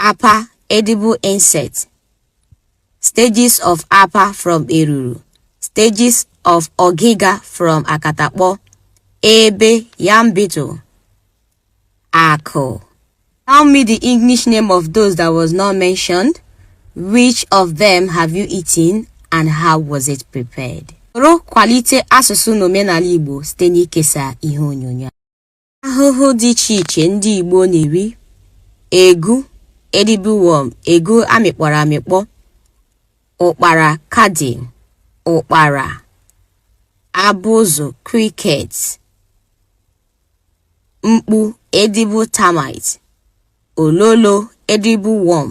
Apa edible insect. Stages of Apa from Eruru. Stages of Ogiga from Akatakpo. Ebe yam beetle. Ako. Tell me the English name of those that was not mentioned. Which of them have you eaten and how was it prepared? Soro kwalite asụsụ na omenala Igbo site n'ikesa ihe onyonyo. Ahụhụ dị iche iche ndị Igbo na-eri egu edible worm egu amịkpọrọ amịkpọ ụkpara kadị ụkpara abụzụ cricket mkpu edible termite ololo edible worm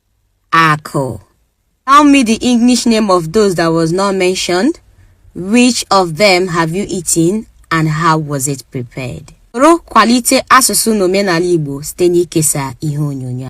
Akụ. Tell me the English name of those that was not mentioned. Which of them have you eaten and how was it prepared? Soro kwalite asụsụ na omenala Igbo site n'ikesa ihe onyonyo.